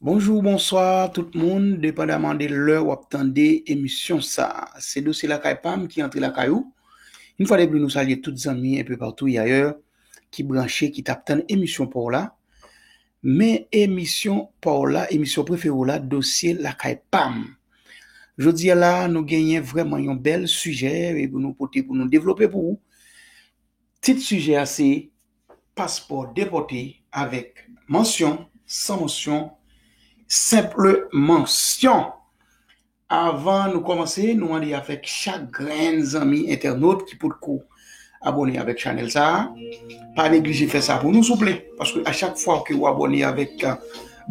Bonjou, bonswa tout moun, depandaman de lè w ap tande emisyon sa a. Se Dosye Lakay pa m ki antre lakay ou. Yon fwa de pli nou salye tout zanmi enpe patou y ayè ki branche, ki t ap tann emisyon pa w la. Men emisyon pa w la, emisyon prefere w la, Dosye Lakay pa m. Jodi a la, nou genyen vrèman yon bèl sijè e pou nou pote pou nou devlope pou ou. Tit sijè a se Paspò depòte avèk mansyon, san mansyon, senple mansyon. Avan nou kòmanse nou mande avèk chak grenn zanmi entènot ki potko abòne avèk chanèl sa a pa neglije fè sa pou nou souple paske a chak fwa ke ou abòne avèk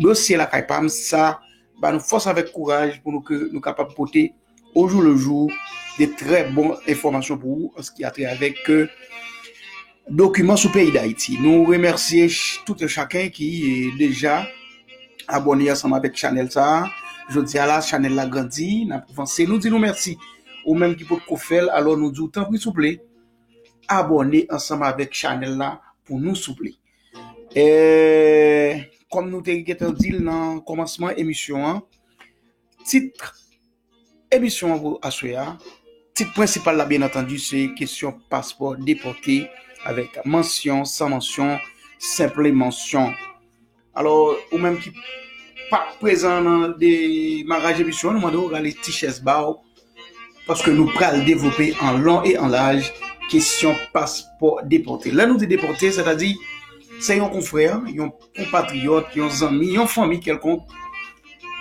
dosye lakay pam sa ba nou fòs avèk kouraj pou nou ke nou kapab pote ojou lejou de trè bon enfòmasyon pou ou anski atre avèk Dokiman sou peyi Dayiti. Nou remèsye tout yon chaken ki deja abòne ansanm avèk chanèl sa a. Jodi a la chanèl la grandi, n ap vanse. Nou di nou mèsi. Ou menm ki potko fè l, alò nou di w tanpri souple abòne ansanm avèk chanèl la pou nou souple. Kòm nou te gentan di l nan kòmansman emisyon an, tit. Emisyon an pou aswè a, tit prensipal la byen antandi se kesyon paspò depòte avèk mansyon, san mansyon, senple mansyon. Alò ou menm ki pa prezan nan demaraj emisyon an nou mande ou rale ti chèz ba ou paske nou pral devlope an lon e an laj kesyon paspò depòte. Lè nou di depòte sètadi se yon konfrè, yon konpatriyòt, yon zanmi, yon fanmi kèlkonk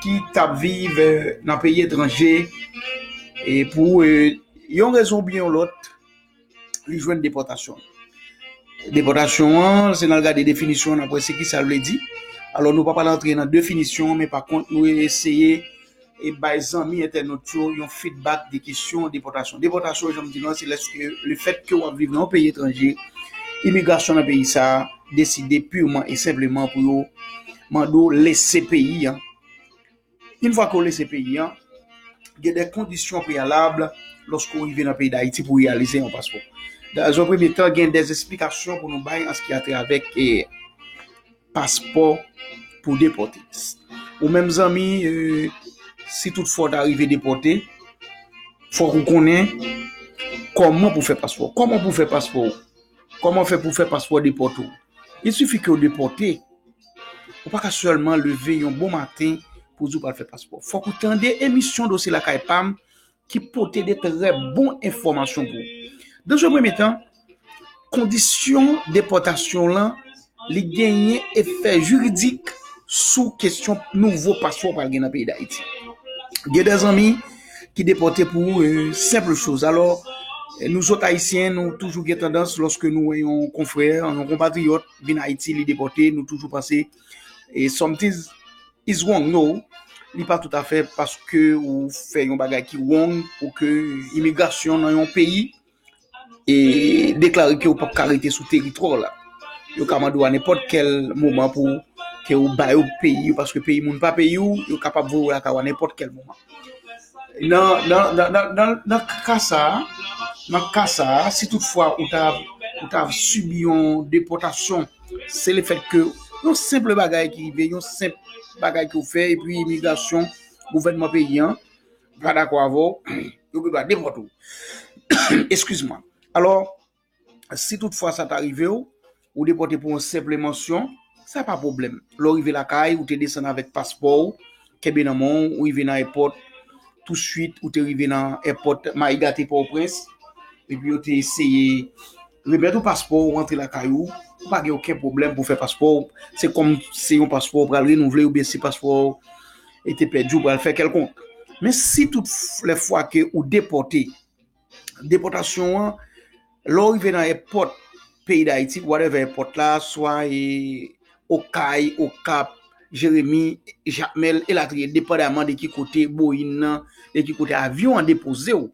ki t ap viv nan peyi etranje e pou yon rezon oubyen yon lòt li jwenn depòtasyon. Depòtasyon an, se nan gade definisyon nan pwese ki sa l vle di. Alò nou pa pral antre nan definisyon men pakont nou eseye e bay zanmi entènot yo yon fidbak de kesyon depòtasyon. Depòtasyon jan m di nou an se lèske lefètke w ap viv nan yon peyi etranje, imigrasyon nan peyi sa a deside pirman e senpleman pou yo mande w lese peyi an. Yn fwa ke w lese peyi an, gen de kondisyon preyalab lòske w rive nan peyi Dayiti pou reyalize yon paspò. Dans un premye tan gen de esplikasyon pou nou bay an se ki a travè ke. paspò pou depòte. Ou menm zanmi, si tout fwa ta rive depòte, fwa kou konnen, kòman pou fè paspò? Kòman pou fè paspò? Kòman fè pou fè paspò depòte? I sifi ke ou depòte, ou pa ka sèlman leve yon bon maten pou di ou pral fè paspò. Fwa kou tande emisyon dosye lakay pam, ki pote de trè bon enfòmasyon pou ou. Dans un premye tan, kondisyon depòtasyon lan li genyen efè jiridik sou kesyon nouvo paspò ou pral gen nan peyi Dayiti. Gen de zanmi ki depòte pou senpl choz. Alò, nou zòt Ayisyen, nou toujou gen tandans lòske nou wè yon konfrè, yon konpatriyòt vin Ayiti, li depòte, nou toujou panse E sometimes is wrong no, li pa tout afè paske ou fè yon bagay ki wrong pou ke imigrasyon nan yon peyi e deklare ke ou pap ka rete sou teritwa w la. Yo ka mande w a nenpòt kèl moman pou ke ou ba yo peyi ou paske peyi moun pa peyi ou, yo kapab voye w lakay ou a nenpòt kèl moman. Nan, nan, nan, nan, nan, nan ka sa a, nan ka sa a, si tout fwa ou ta, ou ta sibi yon depòtasyon, Se le fèt ke yon senple bagay ki rive, yon senple bagay ki ou fè, epi imigrasyon, gouvènman peyi an, pa dakò avè ou, yo gen dwa depòte ou. Eskiz mwen. Alò, si tout fwa sa ta rive ou, ou depòte pou yon senple mansyon, sa pa pwoblèm. Lè ou rive lakay, ou te desann avèk paspò ou, kenbe nan men ou rive nan èpòt, tou swit ou te rive nan èpòt Mayiga te Pòtoprens, epi yo te eseye remèt ou paspò ou antre lakay ou, ou pa gen oken pwoblèm pou fè paspò ou, se kòm se yon paspò ou pral renouvle oubyen si paspò ou te pèdi ou pral fè kèlkonk. Men si tout lè fwa ke ou depòte, Depòtasyon an, lè w rive nan èpòt peyi Dayiti, whatever èpòt la, swa e Okay, Okap, Jeremi, Jakmèl, elatriye, depandaman de ki kote Boeing nan, de ki kote avyon an depoze w,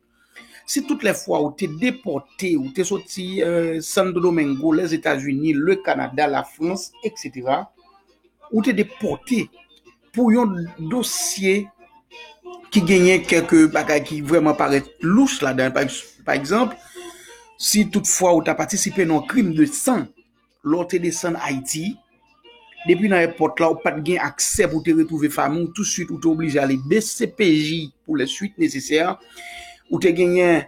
si tout lè fwa ou te depòte, ou te soti Santo Domingo, Lèzetazini, Lekanada, Lafrans, etc. Ou te depòte. Pou yon dosye ki genyen kèlke bagay ki vreman parèt louch ladan, pa egzanp, si tout fwa ou ta patisipe nan yon krim de san, lè ou te desann Ayiti, depi nan èpòt la ou pa t gen aksè pou te retwouve fanmi ou, tou swit ou te oblije ale dcpj pou lè swit nesesè, ou te genyen,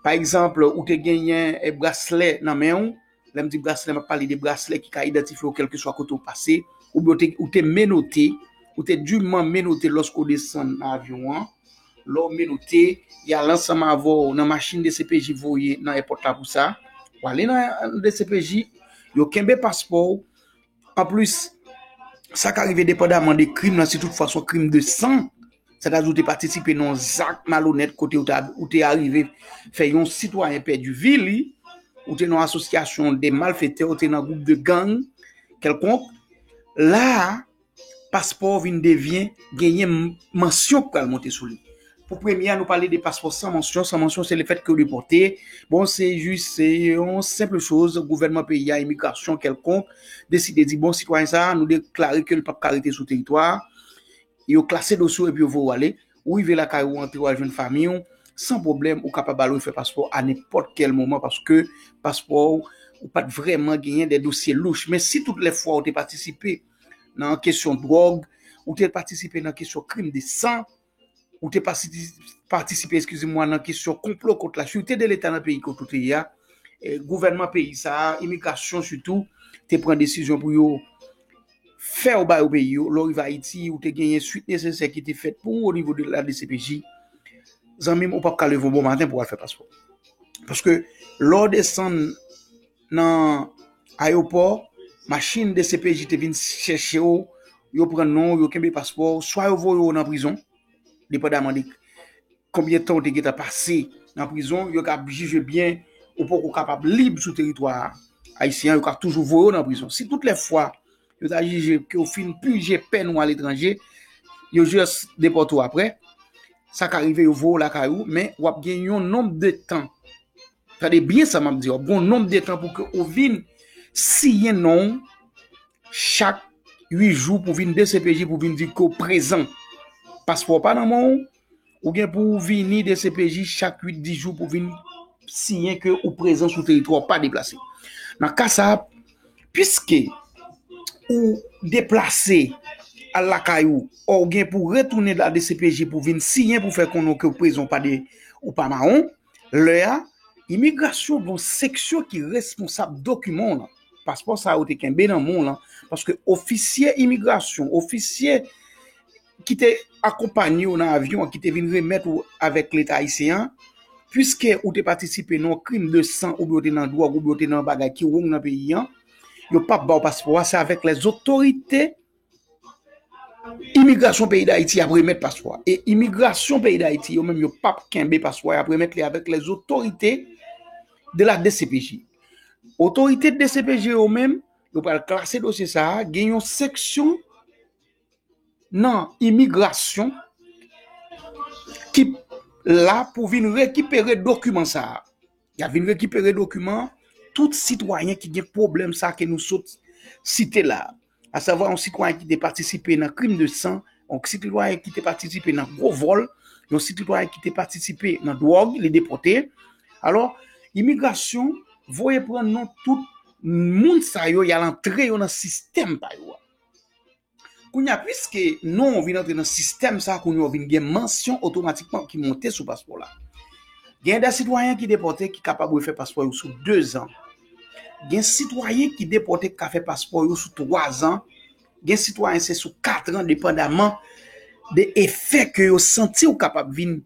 pa egzanp, ou te genyen braslè nan men ou, Lè m di braslè, m ap pale de braslè ki ka idantifye w kèlkeswa kote ou pase, oubyen ou te menote, ou te diman menote lòske ou desann nan avyon an, lè ou menote, y al ansanm avè w nan machin dcpj voye nan èpòt la pou sa, w ale nan dcpj, yo kenbe paspò w, Anplis, sa ka rive depandaman de krim lan, si tout fwa son krim de san, sètadi ou te patisipe nan yon zak malonèt kote ou te arive fè yon sitwayen pèdi vi li, ou te nan yon asosyasyon de malfetè, ou te nan gwoup de gang kèlkonk, la a, paspò ou vin devyen, genyen mansyon k pral monte sou li. Pou premye a nou pale de paspò san mansyon, san mansyon se lefèt ke ou depòte, bon se jis se yon senpl choz gouvènman peyi a, imigrasyon kèlkonk deside di bon sitwayen sa nou deklare ke li pap ka rete sou teritwa a, yo klase dosye ou epi yo voye ou ale, ou rive lakay ou antre ou al jwenn fanmiy ou san pwoblèm ou kapab al refè paspò a nenpòt kèl moman paske paspò ou ou pat vrèman genyen de dosye louch men si tout lè fwa ou te patisipe nan kesyon dwòg, ou te patisipe nan kesyon krim de san. ou te patisipe eskize mwa nan kesyon konplo kont la sirte de leta nan peyi kont ou te ya, gouvènman peyi sa, imigrasyon sitou, te pran desizyon pou yo fè ou ba yo peyi yo, lò rive Ayiti ou te genyen suit nesesè ki te fèt pou ou o nivo de la DCPJ, zanmim ou pap ka leve yon bon maten pou al fè paspò. Paske lò desann nan ayopò, machin dcpj te vin chèche w, yo pran non w, yo kenbe paspò w, swa yo voye w nan prizon, depandaman de konbyen tan ou te gentan pase nan prizon, yo ka jije byen ou poko kapab lib sou teritwa ayisyen an, yo ka toujou voye w nan prizon. Si tout lè fwa yo ta jije ke ou fin pije pèn ou aletranje, yo jis depòte w aprè, sa ka rive yo voye w lakay ou, men w ap gen yon nonb de tan Tande byen sa map diw, gon nonb de tan pou ke ou vin siyen non ou chak 8 jou pou vin dcpj pou vin di ke ou prezan. Paspò ou pa nan men ou, ou gen pou ou vini dcpj chak 8, 10 jou pou vin siyen ke ou prezan sou teritwa ou pa deplase. Nan ka sa, piske ou deplase al lakay ou, ou gen pou retounen la dcpj pou vin siyen pou fè konnen ke ou prezan ou pa mawon, Lè a, imigrasyon gen yon seksyon ki responsab dokiman w lan, paspò sa a ou te kenbe nan men w lan, paske ofisye imigrasyon, ofisye ki te akonpanye w nan avyon an, ki te vin remèt ou avèk Leta ayisyen an, piske ou te patisipe nan yon krim de san oubyen ou te nan dwòg oubyen ou te nan yon bagay ki wrong nan peyi an, yo pap ba w paspò a, se avèk lèzotorite. Imigrasyon peyi Dayiti ap remèt paspò a e imigrasyon peyi Dayiti yo menm yo pap kenbe paspò a, y ap remèt li avèk lèzotorite de la dcpj. Otorite dcpj yo menm, yo pral klase dosye sa a, gen yon seksyon nan imigrasyon ki la pou vin rekipere dokiman sa a. Y ap vin rekipere dokiman tout sitwayen ki gen pwoblèm sa a ke nou sot site la a. asavwa yon sitwayen ki te patisipe nan krim de san, yon sitwayen ki te patisipe nan gwo vòl, yon sitwayen ki te patisipe nan dwòg, li depote. Alò, imigrasyon voye pran non tout moun sa yo, y al antre yo nan sistèm pa yo a. Kounye a, piske non ou vin antre nan sistèm sa, kounye ou vin gen mansyon otomatikman ki monte sou paspò la. Gen de sitwayen ki depote ki kapab refè paspò yo sou 2 zan. Gen sitwayen ki depòte ki ka fè paspò yo sou 3 zan, gen sitwayen se sou 4 ran depandaman de efè ke yo santi ou kapab vin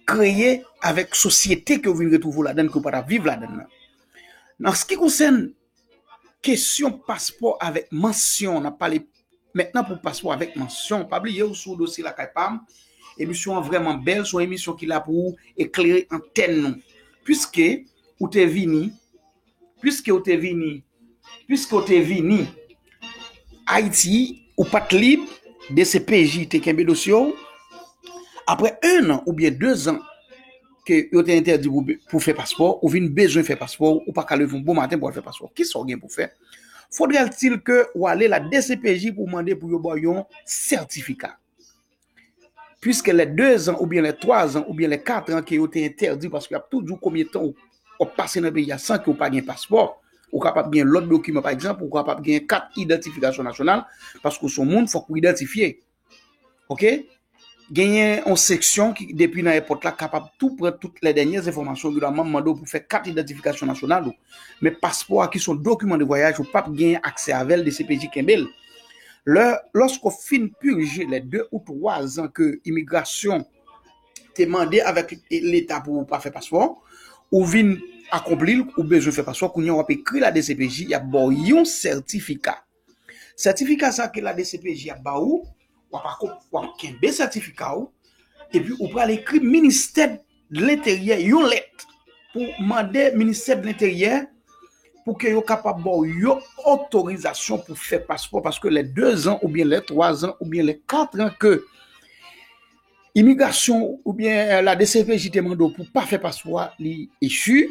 kreye avèk sosyete ke ou vin retwouve ou ladann ke ou pa ta viv ladann nan. Nan se ki konsèn kesyon paspò avèk mansyon, nan pale mètnan pou paspò avèk mansyon, pa bliye ou sou dosye lakay pa m, emisyon an vrèman bèl, son emisyon ki la pou eklere antèn nou. Piske Ou te vini, piske ou te vini, piske ou te vini. Ayiti, ou pa t lib, dcpj te kenbe dosye w, apre 1 an oubyen 2 zan ke yo te entèdi pou fè paspò, ou vin bezwen fè paspò, ou pa ka leve yon bon maten pou al fè paspò w. Kisa w gen pou fè? Fodrèltil ke ou ale la dcpj pou w mande pou yo ba w yon sètifika. Puiske lè 2 zan oubyen lè 3 zan oubyen lè 4 an ke yo te entèdiw paske yap tou diw konbyen tan wap pase nan peyi a san ke ou pa gen paspò, ou kapab gen lòt dokiman pa egzanp ou kapab gen kat idantifikasyon nasyonal paske ou son moun fòk ou idantifye. Ok, genyen yon seksyon ki depi nan èpòt la kapab tou pran tout lè dènyè enfòmasyon ki dòman mandew pou fè kat idantifikasyon nasyonal ou men paspò a ki son dokiman de vwayaj ou pap gen aksè avèl dcpj kenbel. Lè, lòske w fin purje lè 2 ou 3 zan ke imigrasyon te mande avèk leta pou ou pa fè paspò, ou vin akonpli l, ou bezwen fè paspò, kounye a w ap ekri la dcpj, y ap ba w yon sètifika. Sètifika sa ke la dcpj ap ba ou, w ap kenbe sètifika ou, epi ou pral ekri ministè. dlenteryè yon lèt pou mande ministè dlenteryè pou ke yo kapab baw yo otorizasyon pou fè paspò paske lè 2 zan ou byen lè 3 zan ou byen lè 4 zan ke imigrasyon ou byen la DCPJ te mande w pou pa fè paspò a li echi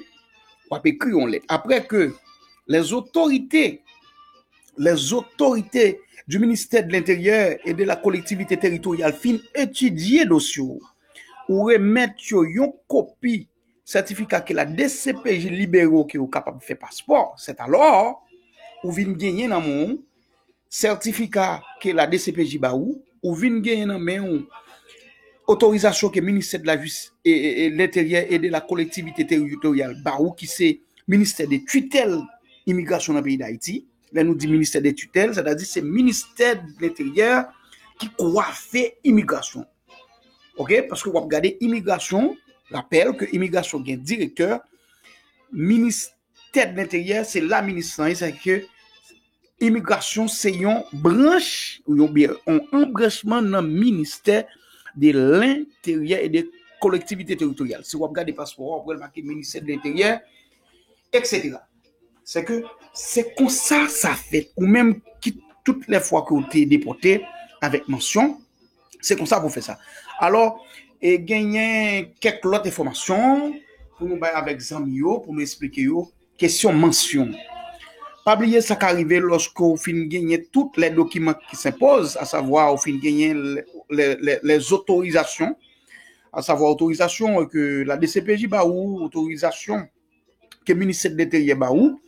wap ekri yon lèt apre ke lè zotorite lè zotorite di ministè dlenteryè e de la kolektivite teritoryal fin etidye dosye w Ou remèt yo yon kopi sètifika ke la dcpj libere w ke ou kapab fè paspò, sètalò, ou vin genyen nan men w sètifika ke la dcpj ba ou, ou vin genyen nan men w otorizasyon ke Ministè de la Jis, de l'Intérieur et de la Collectivité Territoriale ba ou ki se ministè de titèl imigrasyon nan peyi Dayiti. Lè nou di ministè de titèl, sètadi se ministè de l'Intérieur ki kwafe imigrasyon. Ok, paske wap gade imigrasyon, rapèl ke imigrasyon gen direktè, ministè de l'interyè se la minis lan ye, sa fè ke imigrasyon se yon branch ou yon biyè, yon anbranchman nan ministè de l'interyè e de kolektivite teritoryal. Si wap gade paspò wap wèl make ministè de l'interyè, etc. Se ke se konsa sa fèt ou menm ki tout lè fwa ke ou te depote avèk mansyon, Se konsa pou fè sa. Alò, e genyen kèk lòt enfòmasyon pou nou bay avèk zanmi yo, pou nou esplike yo, kesyon mansyon. Pa bliye sa ka rive lòske ou fin genyen tout lè dokiman ki senpoz, a savwa ou fin genyen lè zotorizasyon, a savwa otorizasyon ke la DCPJ ba ou, otorizasyon ke Ministè de Enteryè ba ou,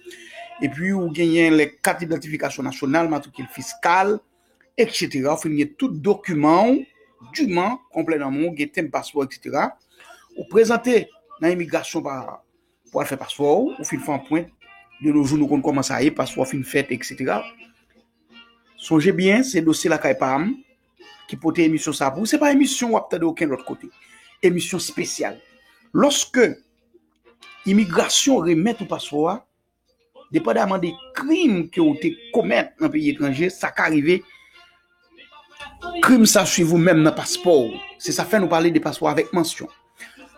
epi ou genyen lè kat idantifikasyon nasyonal, matrikil fiskal, etc. Ou fin gen tout dokiman ou, duman, konplè nan moun, gen tenb paspò, etc. Ou prezante nan imigrasyon pa pou al fè paspò ou, ou fin fè anpwent, de nou jou nou konn koman sa ye, paspò fin fèt, etc. Sonje byen, se dosye lakay pa m, ki pote emisyon sa pou, se pa emisyon wap tande oken lòt kote, emisyon spesyal. Lòske imigrasyon remèt ou paspò a, depandaman de krim ke ou te komèt nan peyi etranje, sa ka rive krim sa swiv ou menm nan paspò ou. Se sa fè nou pale de paspò avèk mansyon.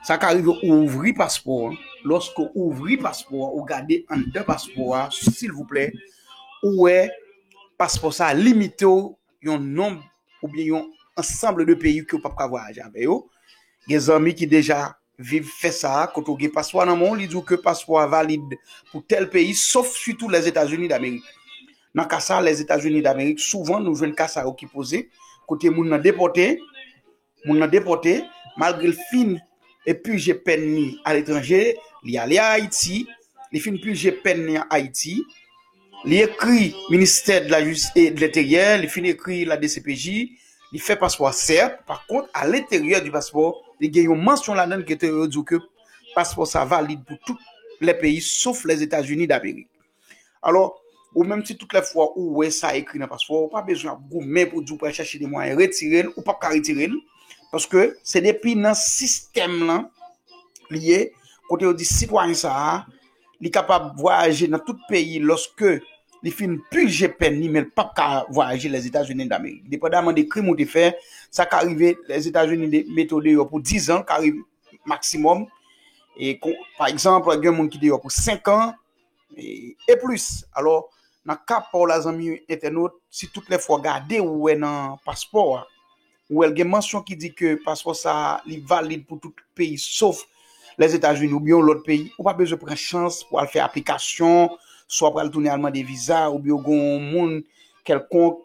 Sa ka rive ou ouvri paspò an, lòske ou ouvri paspò an, ou gade anndan paspò a, silvouplè, ou wè paspò sa limite ou yon nonb oubyen yon ansanble de peyi ke ou pap ka vwayaje avè yo. Gen zanmi ki deja Viv fè sa a kote w gen paspò a nan men w li di w ke paspò a valid pou tèl peyi sof sitou Lèzetazini Damerik. Nan ka sa a Lèzetazini Damerik souvan nou jwenn ka sa yo ki poze kote moun nan depòte, moun nan depòte malgre l fin pije pèn ni aletranje li ale a Ayiti li fin pije pèn ni a Ayiti, Li ekri ministè de la jistis et de l'interyè, li fin ekri la dcpj, li fè paspò a sèt, pa kont a lenteryè di paspò li gen yon mansyon ladann kote yo di w ke paspò sa valid pou tout lè peyi sof Lèzetazini damerik. Alò, ou menm si tout lè fwa ou wè sa ekri nan paspò a, ou pa bezwen ap goumen pou di w pral chache de mwayen retire l, ou pap ka retire l, paske se depi nan sistèm lan li ye, kote yo di sitwayen sa a li kapab vwayaje nan tout peyi lòske li fin pije pèn li men l pap ka vwayaje Lèzetazini Damerik. Depandaman de krim ou te fè, sa ka rive Lèzetazini mete w deyò pou dizan, ka rive maksimòm. E pa egzanp, gen moun ki deyò pou senkan e plis. Alò, nan ka pa w la zanmi entènot, si tout lè fwa gade ou wè nan paspò a, Ou wè l gen mansyon ki di ke paspò sa a li valid pou tout peyi sof Lèzetazini oubyen yon lòt peyi. Ou pa bezwen pran chans pou al fè aplikasyon, swa ou pral tounen al mande viza oubyen ou gen yon moun kèlkonk,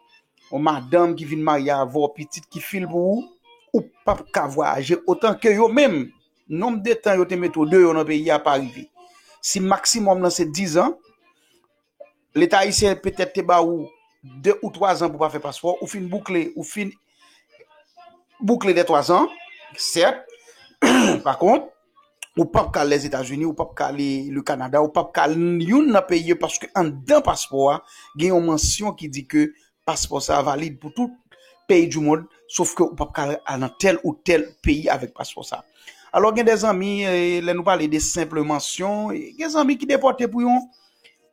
yon madanm ki vin marye avè w, pitit ki fil pou ou, ou pap ka vwayaje otan ke yo menm nonb de tan yo te mete w deyò nan peyi a pa rive. Si maksimòm lan se dizan, Leta ayisyen petèt te ba ou 2 ou 3 zan pou pa fè paspò, ou fin boukle, ou fin boukle dè 3 zan, sèt, pa kont, ou pap ka al Lèzetazini, ou pap ka ale Le Kanada, ou pap ka al youn nan peyi yo paske anndan paspò a gen yon mansyon ki di ke Paspò sa valid pou tout peyi du mond, sof ke ou pap ka al nan tèl ou tèl peyi avèk paspò sa. Alò gen de zanmi, lè nou pale de senple mansyon, gen zanmi ki depòte pou yon,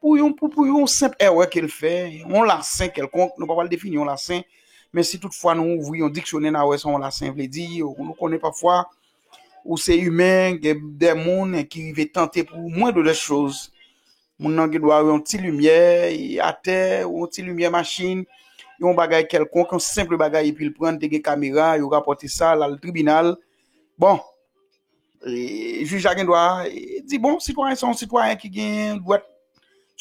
pou yon, pou yon senp èrè ke l fè, yon lasen kèlkonk, nou pa pral defini yon lasen, men si tout fwa nou ouvri yon diksyonè n a wè sa yon lasen vle di, nou konnen pafwa ou se imen, gen de moun ki rive tante pou mwen de lè choz. Moun nan gen dwa wè yon ti limyè atè, yon ti limyè machin, yon bagay kèlkonk, yon senpl bagay epi l pran l te gen kamera, yo rapòte sa, l al tribinal. Bon, jij la gen dwa di bon, sitwayen sa se yon sitwayen ki gen dwèt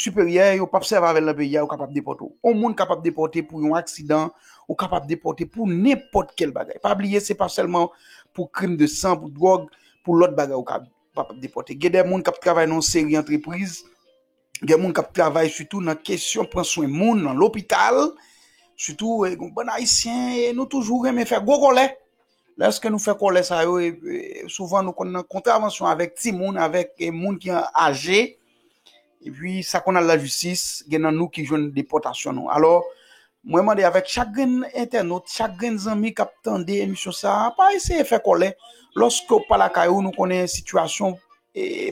siperyè, yo pap sèvi avè l nan peyi a, yo kapab depòte w. Yon moun kapab depòte pou yon aksidan, ou kapab depòte pou nenpòt kèl bagay. Pa bliye se pa sèlman pou krim de san, pou dwòg, pou lòt bagay ou ka. pa pap depòte. Gen de moun kap travay nan yon seri antrepriz, gen moun kap travay sitou nan kesyon pran swen moun nan lopital, sitou yon bann ayisyen nou toujou renmen fè gwo kòlè, lèske nou fè kòlè sa yo souvan nou konn nan kontravansyon avèk timoun, avèk moun ki aje, Epi sa konn al lajistis, gen nan nou ki jwenn depòtasyon nou. Alò, mwen mande avèk chak grenn entènot, chak grenn zanmi k ap tande emisyon sa a, pa eseye fè kòlè lòske w pa lakay ou, nou konnen sitiyasyon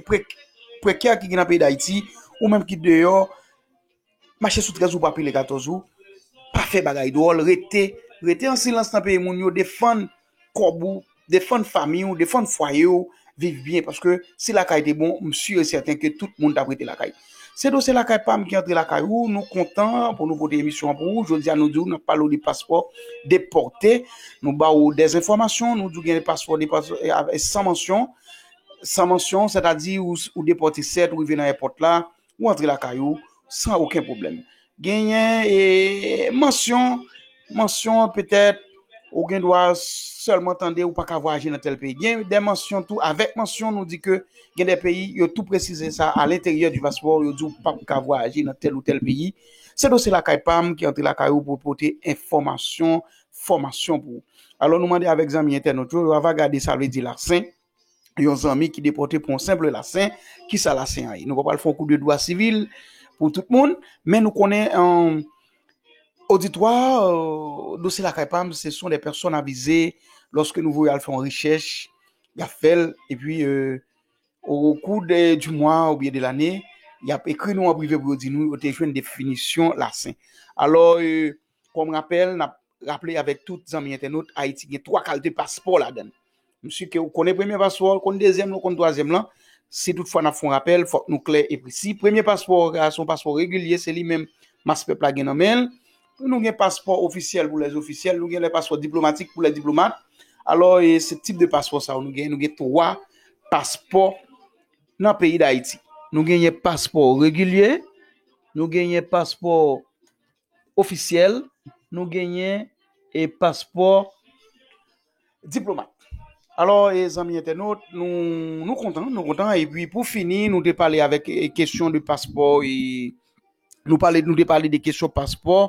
prekè ki gen nan peyi Dayiti, ou menm ki deyò, Mache sou 13 ou pa pile 14 ou pa fè bagay dwòl rete rete an silans nan peyi moun yo defann kòb ou defann fanmi ou defann fwaye ou viv byen paske si lakay te bon m si e sèten ke tout moun ta prete lakay se do se lakay pam ki antre lakay ou nou kontan pou nou pote emisyon an pou ou jodi a nou di w nan pale w de paspò depòte nou ba ou dè enfòmasyon nou di w gen de paspò depòte san mansyon san mansyon sètadi ou depòte sèt ou rive nan èpòt la ou antre lakay ou san oken pwoblèm. Genyen e mansyon, mansyon petèt ou gen dwa sèlman tande ou pa ka vwayaje nan tèl peyi. Gen de mansyon tou, avèk mansyon nou di ke gen de peyi yo tou presize sa a lenteryè di paspò ou yo di ou pa ka vwayaje nan tèl ou tèl peyi. Se dosye lakay pa m ki antre lakay ou pou pote enfòmasyon, fòmasyon pou ou. Alò nou mande avèk zanmi entènot yo, yo ava gade sa vle di laksen. yon zanmi ki depòte pou yon senple lasen, ki sa lasen an ye? Nou pa pral fè yon kou de dwa sivil pou tout moun, men nou konnen oditwa dosye lakay pa m, se son de pèsòn avize, lòske nou voye al fè yon rechèch, y ap fè l, e pi o kou de di mwa ou byen de lane, y ap ekri nou an prive pou yo di nou yo te jwenn definisyon lasen. Alò, Kòm rapèl, nap raple avèk tout zanmi entènot, Ayiti gen 3 kalte paspò ladan l. Msi ke ou konnen premye paspò a, ou konn dezyèm lan, ou konn twazyèm lan. Si tout fwa nap fon rapèl, fòk nou klè e presi. Premye paspò a, son paspò regilye, se li menm mas pèp la gen nan men l. Nou gen paspò ofisyèl pou lè ofisyèl, nou gen lè paspò diplomatik pou lè diplomat. Alò, e se tip de paspò sa yo nou gen, nou gen 3 paspò nan peyi Dayiti. Nou genyen paspò regilye, nou genyen paspò ofisyèl, nou genyen e paspò diplomat. Alò e zanmi entènot, nou nou kontan, nou kontan e pi pou fini nou te pale avèk kesyon de paspò e nou pale nou te pale de kesyon paspò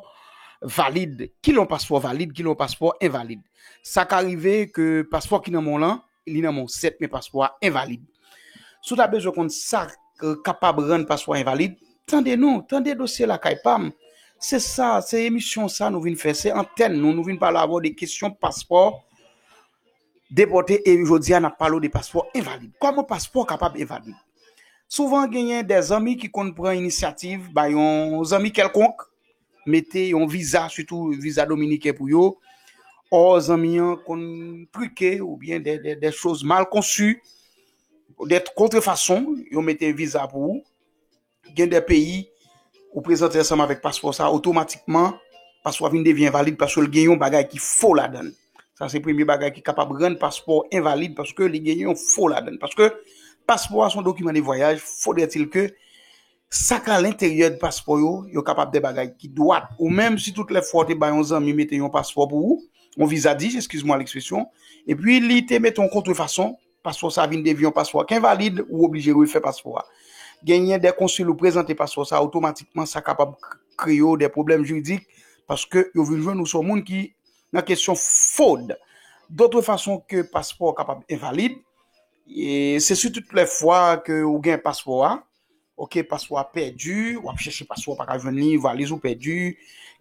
valid. Kilè yon paspò valid, kilè yon paspò envalid. Sa ka rive ke paspò ki nan men w lan li nan men w 7 men paspò a envalid. Si w ta bezwen konn sa k kapab rann paspò a envalid, tande nou, tande dosye lakay pa m. Se sa, se emisyon sa nou vin fè, se antèn nou, nou vin pale avè w de kesyon paspò depòte e jodi a n ap pale w de paspò envalid. Kòman paspò kapab envalid? Souvan genyen de zanmi ki konn pran inisyativ bay yon zanmi kèlkonk mete yon viza sitou viza dominiken pou yo o zanmi an konn trike ou byen de choz mal konsu ou de kontre fason yo mete viza pou ou gen de peyi ou prezante ansanm avèk paspò sa otomatikman paspò vin devyen valide paske l gen yon bagay ki fo ladan l sa se premye bagay ki kapab rann paspò envalide paske li gen yon fo ladan l paske paspò a son dokiman de vwayaj fodètil ke Sa k a lenteryè de paspò yo, yo kapab de bagay ki dwat ou menm, si tout lè fwa ou te bay yon zanmi mete yon paspò pou ou, yon viza dij, eskiz mwa lekspresyon, epi li te mete yon kontrefason, paspò sa vin devi yon paspò k envalid, ou oblije refè paspò a. Genyen de konsil ou prezante paspò sa otomatikman, sa kapab kreye w de pwoblèm jiridik, paske yo vin jwenn ou se yon moun ki nan kesyon fwod. Dotre fason ke paspò kapab envalid, se si tout lè fwa ke ou gen paspò a, Ok paspo a pèdi, wap chèche paspo a paka jwenn li, valiz ou pèdi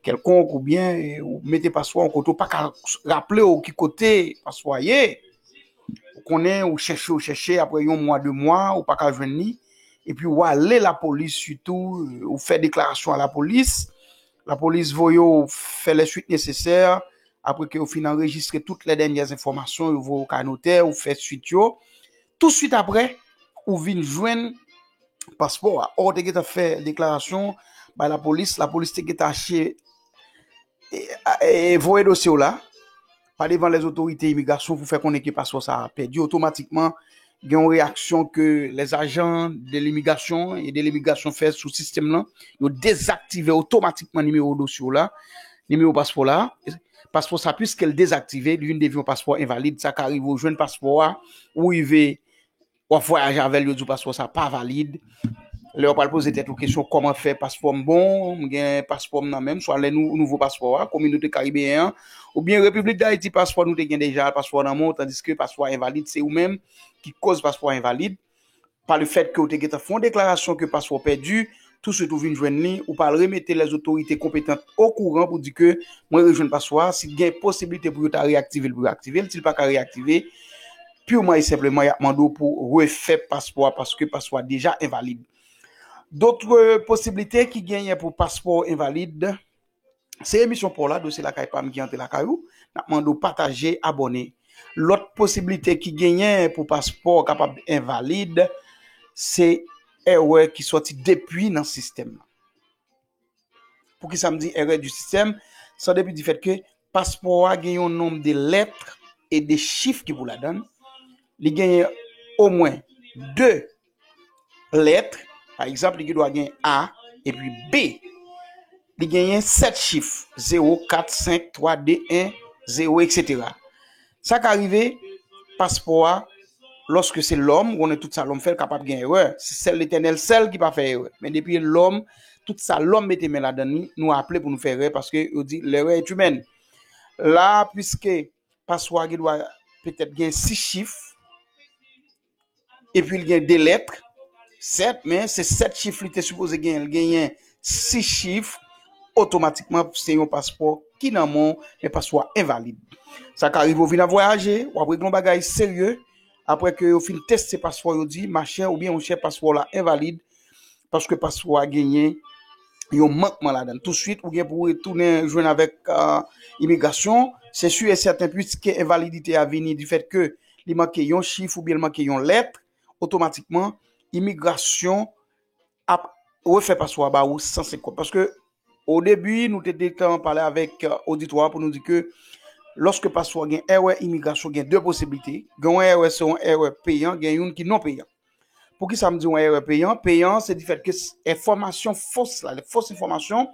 kèlkonk oubyen ou mete paspo a yon kote ou paka raple w ki kote paspo a ye, ou konnen ou chèche ou chèche aprè yon mwa 2 mwa ou paka jwenn li epi ou ale lapolis sitou ou fè deklarasyon a lapolis, lapolis voye w fè lè swit nesesè apre ke yo fin anrejistre tout lè dènyè enfòmasyon yo voye w kay notè ou fè swit yo, Tou swit apre ou vin jwenn paspò a, ò te gentan fè deklarasyon bay lapolis, lapolis te gentan achte e voye dosye w la pa devan lè zotorite imigrasyon pou fè konnen ke paspò sa a pèdi otomatikman gen yon reyaksyon ke lè zajan de limigrasyon e de limigrasyon fè sou sistèm lan yo dezaktive otomatikman nimewo dosye w la, nimewo paspò la. Paspò sa pwiske l dezaktive li vin devni yon paspò envalid sa ka rive ou jwenn paspò a ou rive wap vwayaje avèl yo di w paspò sa pa valid lè wap pral poze tèt ou kesyon kòman fè paspò m bon m gen paspò m nan menm swa lè nou nouvo paspò a kominote karibeyen an oubyen repiblik dayiti paspò nou te gen deja paspò nan men w tandiske paspò a envalid se ou menm ki koz paspò a envalid. pa le fèt ke ou te gentan fè yon deklarasyon ke paspò pèdi, tou swit ou vin jwenn li, ou pral remete lè zotorite konpetant o kouran pou di ke mwen rejwenn paspò a, si t gen posiblite pou yo ta reyaktive l pou yo aktive l, si l pa ka reyaktive, purman e senpleman y ap mande w pou refè paspò a paske paspò a deja envalid. Dotre posiblite ki genyen pou paspò envalid. Se emisyon paw la dosye lakay pam ki antre lakay ou nap mande w pataje abòne lòt posiblite ki genyen pou paspò kapab envalid se èrè ki sòti depi nan sistèm nan poukisa m di èrè di sistèm sa depi di fèt ke paspò a gen yon nonm de lèt e de chif ki pou ladann li genyen omwen 2. lèt, pa egzanp li gen dwa gen A epi B, li genyen 7 chif, 0, 4, 5, 3, 2, 1, 0, etc. Sa ka rive, paspò a, lòske se lòm, konnen tout sa lòm fè, l kapab gen erè, se sèl Letènèl sèl ki pa fè erè, men depi e lòm, tout sa lòm mete men ladan li, nou aple pou nou fè erè, paske yo di, l'erreur est humaine. La a, pwiske paspò a gen dwa petèt gen 6 chif, Epi li gen 2 lèt, 7, men se 7 chif li te sipoze genyen, li genyen 6 chif, otomatikman se yon paspò ki nan men w, men paspò a envalid. Sa ka rive ou vin ap vwayaje, w ap regle yon bagay serye, apre ke yo fin teste paspò yo di, machè oubyen monchè paspò w la envalid, paske paspò a genyen yon mankman ladan l. Tousuit ou gen pou retounen jwenn avèk imigrasyon, se si e sèten piske envalidite a vini difèt ke. li manke yon chif oubyen li manke yon lèt, otomatikman imigrasyon ap refè paswa ba ou san se kont. Paske o debi nou te detan pale avèk oditwa euh, pou nou di ke loske paswa gen erè imigrasyon gen de posibilite, gen yon erè se yon erè peyan, gen yon ki non peyan. Pou ki sa m di yon erè peyan? Peyan se di fèt ke enfòmasyon fos la, le fos enfòmasyon,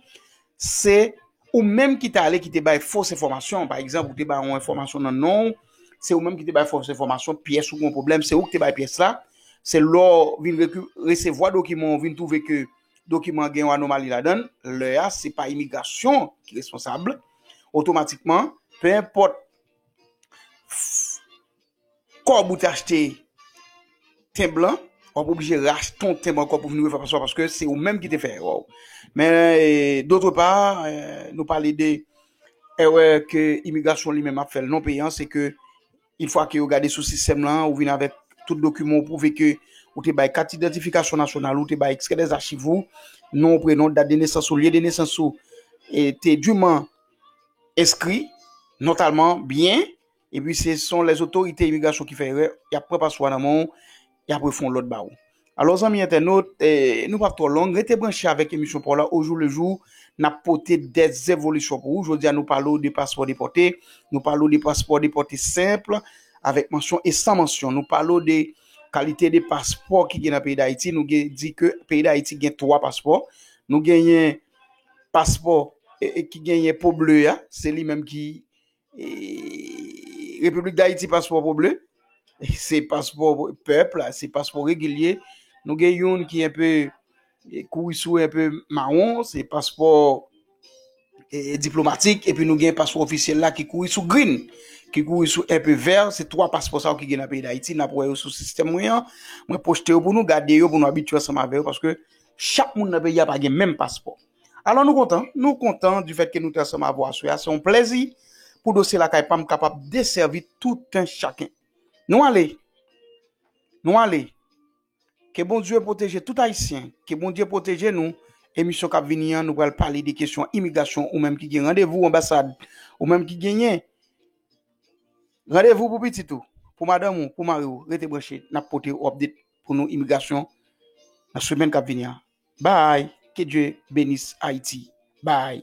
se ou menm ki te ale ki te bay fos enfòmasyon. Pa egzanp, ou te bay yon enfòmasyon nan non, se ou menm ki te bay fos enfòmasyon, pyès ou gen yon pwoblèm, se ou ki te bay pyès la. Se lè ou vin resevwa dokiman ou vin twouve ke dokiman gen yon anomali ladan, lè a se pa imigrasyon ki responsab, otomatikman, pe enpòt. Kòb ou te achte tenb lan, wap oblije rachte ton tenb ankò pou vini refè paswa paske se ou menm ki te fè erè w. Men dotre pa, nou pale de erè ke imigrasyon li menm ap fè l non peyan, se ke in fwa ke yo gade sou sistèm lan, ou vini avèk tout dokiman ou pwouve ke ou te bay kat idantifikasyon nasyonal ou, te bay ekstrè dè zachiv ou, non, prenon, dat de nesans ou, lye de nesans ou, e te diman enskri, notalman, byen. Epi se son les otorite imigrasyon ki fè erè, y ap pran paspo a nan men w, y ap refon lòt ba ou. Alò zanmi entènot, nou pap twò long, rete branche avèk emisyon pa w la ojou le jou, n ap pote dè zevolisyon pou ou. Jodi a nou pale w de paspò depòte, nou pale w de paspò depòte senp, avèk mansyon e san mansyon. Nou pale w de kalite de paspò ki gen nan peyi Dayiti, nou gen di ke peyi Dayiti gen 3 paspò, nou genyen paspò ki genyen po ble a, se li menm ki Repiblik Dayiti paspò pou ble, se paspò pèp la, se paspò regilye, nou gen youn ki enpe kouri sou enpe mawon, se paspò diplomatik, epi nou gen paspò ofisyèl la ki kouri sou grin, ki kouri sou enpe vèr, se 3 paspò sa ou ki gen nan peyi Dayiti, nan pou wè yo sou sistèm mwen an, mwen pochte yo pou nou, gade yo pou nou abitye ansanm avè yo, paske chak moun nan peyi a pa gen menm paspò. Alò nou kontan, nou kontan du fèt ke nou te ansanm avè w aswè a. Se yon plèzi pou Dosye Lakay pa m kapab desèvi tout un chacun. Nou ale! Nou ale! Ke Bondye pwoteje tout Ayisyen, ke Bondye pwoteje nou. Emisyon k ap vini an, nou pral pale de kesyon imigrasyon. Ou menm ki gen randevou anbasad, ou menm ki genyen randevou pou pitit ou, pou madanm ou, pou mari w, rete branche. N ap pote ou update pou nou imigrasyon nan semèn k ap vini an. Bye ke Dieu benisse Haïti bye.